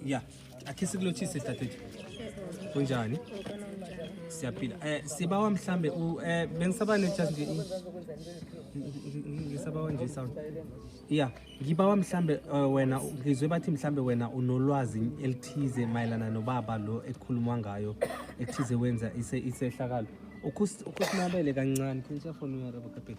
ya akhe sikulotshise dadethu kunjani siyaphila eh sibawa mhlambe u eh bengisaba ne just nje ngisabawa nje sound ya ngibawa mhlambe eh, wena ngizwe bathi mhlambe wena unolwazi elithize mayelana nobaba lo ekukhulumwa ngayo ekuthize wenza ise isehlakalo Ukus- ukusinabele kancane can you just phone uyarabo kapela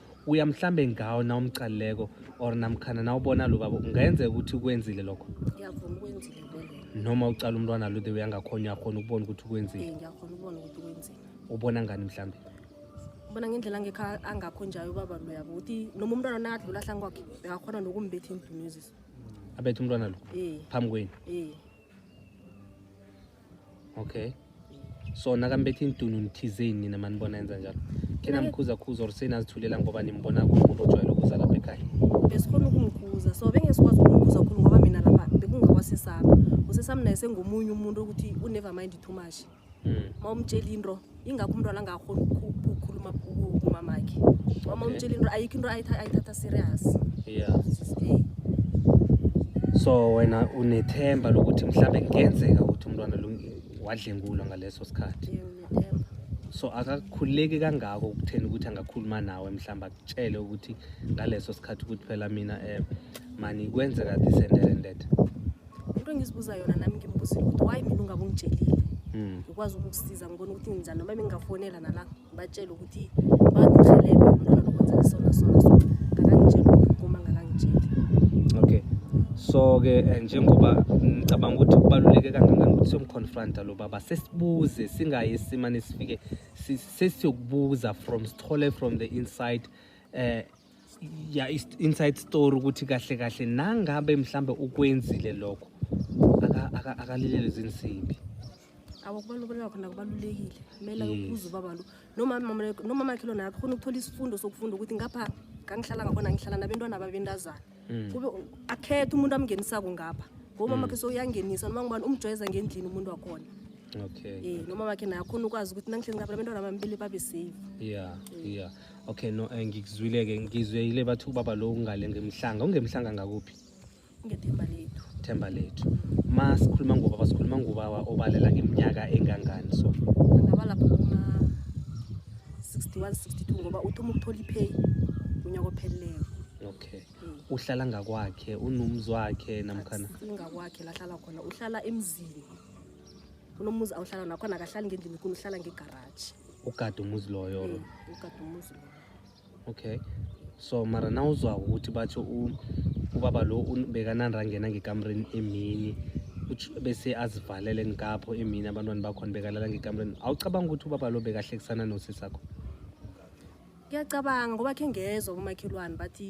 uya mhlambe ngawo na umcaleko or namkhana na ubona lo baba ungayenzeka ukuthi ukwenzile lokho ngiyavuma ukwenzile vele noma ucala umntwana lo the way angakhona uyakhona ukubona ukuthi ukwenzile eh ngiyakhona ukubona ukuthi ukwenzile ubona ngani mhlambe ubona ngendlela angekho angakho njalo ubaba lo yabo ukuthi noma umntwana nakadlula hlangi kwakhe bekakhona nokumbetha indunezisa abethe umntwana lo eh phambi kwenu eh okay so nakambethi intunu nithizeni nina manibona enza njalo kena mkhuzakhuza or senazithulela ngoba nimbona kumuntu ojwayele ukuza lapha ekhaya besikhona ukumkhuza so bengesikwazi ukumkhuza khulu ngoba mina lapha bekungawasesami usesami naye sengomunye umuntu ukuthi unever mind too much ma hmm. umtshela into ingakho umntwana angakhoni ukukhuluma kumamakhe uma umtshela into ayikho into ayithatha serious yeah so wena unethemba lokuthi mhlawumbe kungenzeka ukuthi umntwana wadlengulwa ngaleso sikhathi so akakhululeki kangako ukutheni ukuthi angakhuluma nawe mhlawumbe akutshele ukuthi ngaleso sikhathi ukuthi phela mina um mani kwenzeka this and that and that into engizibuza yona nami ngimbuzile ukuthi why mina ungabe ungitshelile hmm. ngikwazi ukukusiza ngibona ukuthi nginjani noma bengingafonela nala ngibatshele ukuthi bangirhelebhe umntwana lokwenzela sona sona so ngakangitsheli uma ngakangitsheli okay so-ke eh, njengoba ngicabanga ukuthi kubaluleke kangangani ukuthi siyomconfronta lo baba sesibuze singayi simane sifike sesiyokubuza from sithole from the inside um ya inside story ukuthi kahle kahle nangabe mhlambe ukwenzile lokho akalilele zinsimbi awakubaluleka khona kubalulekile kumele ukubuza ubaba lo nomama makhe lona akho khona ukuthola isifundo sokufunda ukuthi ngapha kangihlala ngakhona ngihlala nabentwana babentazana mm. kube akhethe umuntu amngenisako ngapha ngomama mm. makhe sokuyangenisa noma ngubani umjwayeza ngendlini umuntu wakhona okay eh noma makhe naye akhona ukwazi ukuthi nangihlezi ngapha abantwana bami bele babe safe yeah yeah okay no eh, ngikuzwile-ke ngizweyile bathi ubaba lo ungale ngemhlanga ungemhlanga ngakuphi ngethemba lethu themba lethu ma sikhuluma ngobaba sikhuluma ngobaba obalela ngeminyaka engangani so angaba lapho kuma 61 62 ngoba uthoma ukuthola ipay unyaka opheleleyo okay mm. uhlala ngakwakhe unomzi wakhe namkhana ngakwakhe lahlala khona uhlala emzini kunomuzi awuhlala nakhona akahlali ngendlini kuni uhlala ngegaraji ugade umuzi loyo or Mm, ugade umuzi loyo okay so mara na uzwako ukuthi batsho u- ubaba lo un- bekananda angena ngekamreni emini utsho- bese azivalele ngikapho emini abantwana bakhona bekalala ngekamreni awucabanga ukuthi ubaba lo bekahlekisana nosisakho ngiyacabanga ngoba khe ngezwa komakhelwane bathi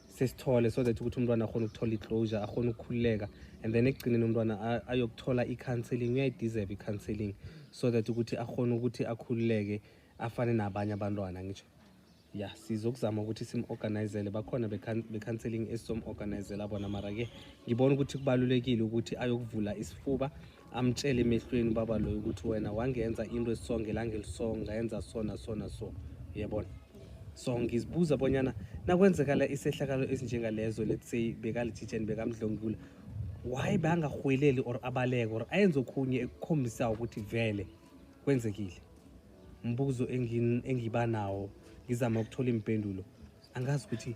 sesithole so that ukuthi umntwana akhona ukuthola i-closure akhona ukukhululeka and then ekugcineni umntwana ayokuthola i-counseling uyayideserve i-counseling so that ukuthi akhona ukuthi akhululeke afane nabanye abantwana ngisho ya sizokuzama ukuthi sim-organizele bakhona be-counseling esizomu-organizela bona mara-ke ngibona ukuthi kubalulekile ukuthi ayokuvula isifuba amtshele emehlweni ubaba loyo ukuthi wena wangenza into esisonge langelisong ngayenza sona sona so yebona so ngizibuza bonyana nakwenzekala isehlakalo esinjengalezo let's say bekalijijeni bekamdlongula why bangarhweleli or abaleke or ayenze okhunye ekukhombisa ukuthi vele kwenzekile mbuzo engiba nawo ngizama ukuthola impendulo angazi ukuthi